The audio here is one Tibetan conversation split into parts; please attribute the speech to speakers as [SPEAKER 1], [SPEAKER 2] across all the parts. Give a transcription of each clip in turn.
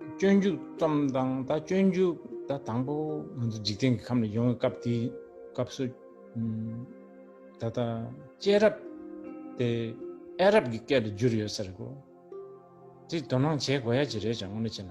[SPEAKER 1] སྤྱོད་འཇུག་ཙམ་དང་ད་སྤྱོད་འཇུག་ད་དང་པོ་ང་ཚོ་འཇིག་རྟེན་གྱི་ཁམས་ལ་ཡོང་བའི་སྐབས་དེ་སྐབས་སུ་ད་ད་སྐྱེས་རབས་དེ་ཨེ་རབས་ཀྱི་སྐད་དུ་བསྒྱུར་ཡོད་ཟེར་གོ་དེ་དོ་སྣང་བྱེད་དགོས་ཡ་ཅི་རེད་ཅང་ངོ་མི་ཆེ་ན།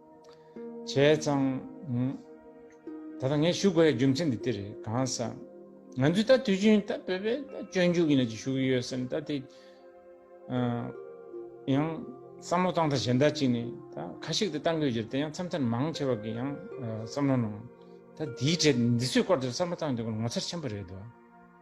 [SPEAKER 1] བྱས་ཙང། ད་ལྟ་ངས་ཞུ་དགོས་ཡ་རྒྱུ་མཚན་འདི་དེ་རེད་གང་ས། ང་ཚོས་ད་དུས་རྒྱུན་ད་བོད་པའི་སྤྱོད་འཇུག་ཡིན་ལ་ཅིག་ཞུ་གི་ཡོད་སེམས་ད་དེ། ཡང་བསམ་བློ་བཏང་ད་གཞན་དག་ཅིག་ནས་ད་ཁ་ཤིག་ད་བཏང་གི་ཡོད་རྒྱུར་དེ་ཡང་མཚམས་མཚམས་མང་ཆེ་བ་གི་ཡང་བསམ་བློ་གནང། ད་དེའི་གྲས་འདི་ཚོའི་སྐོར་དེར་བསམ་བློ་བཏང་དེ་སྐོར་ངོ་མཚར་ཆེན་པོ་རེད་དོ།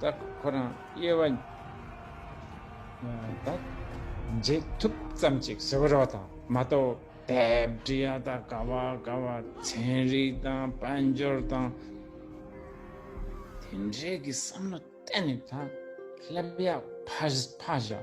[SPEAKER 1] བདག་ཁོ་རང་དབྱེ་བ་དང། རྗེས་ཐུབ་ཙམ་ཅིག་ཟེར་བ་རོ་དང་མ་གཏོགས་བེབ་འབྲི་ཡ་དག་དགའ་བ་དགའ་བ་ཚན་རིག་དང་དཔལ་འབྱོར་དང་དེ་འདྲའི་གི་བསམ་བློ་གཏན་ནས་དང་སླེབས་ཡག་ཕ་བཞག།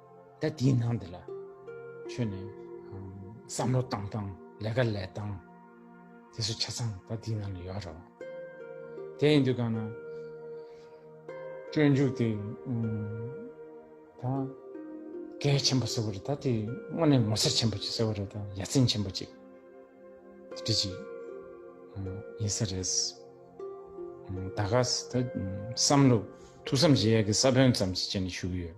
[SPEAKER 1] ད་དེའི་ནང་དེ་ལ་ཆོས་ནས་བསམ་བློ་བཏང་དང་ལས་ཀ་ལས་དང་དེ་སུ་ཆ་ཚང་ད་དེའི་ནང་ལ་ཡོད་རོ་དེ་ཡིན་དུ་གང་ན་སྤྱོད་འཇུག་དེ་ད་གལ་ཆེན་པོ་སོ་བར་ད་དེ་དངོས་ནས་མོ་སར་ཆེན་པོ་ཅིག་སོ་བར་ད་ཡ་ཚན་ཆེན་པོ་ཅིག་དེ་ཅིག་ཡིན་ས་རེད་ད་ག་ཟེ་ད་བསམ་བློ་ཐུགས་བསམ་བཞེས་ཡག་གི་ས་བོན་ཙམ་ཞིག་བྱས་ནས་བཞུགས་ཡོད།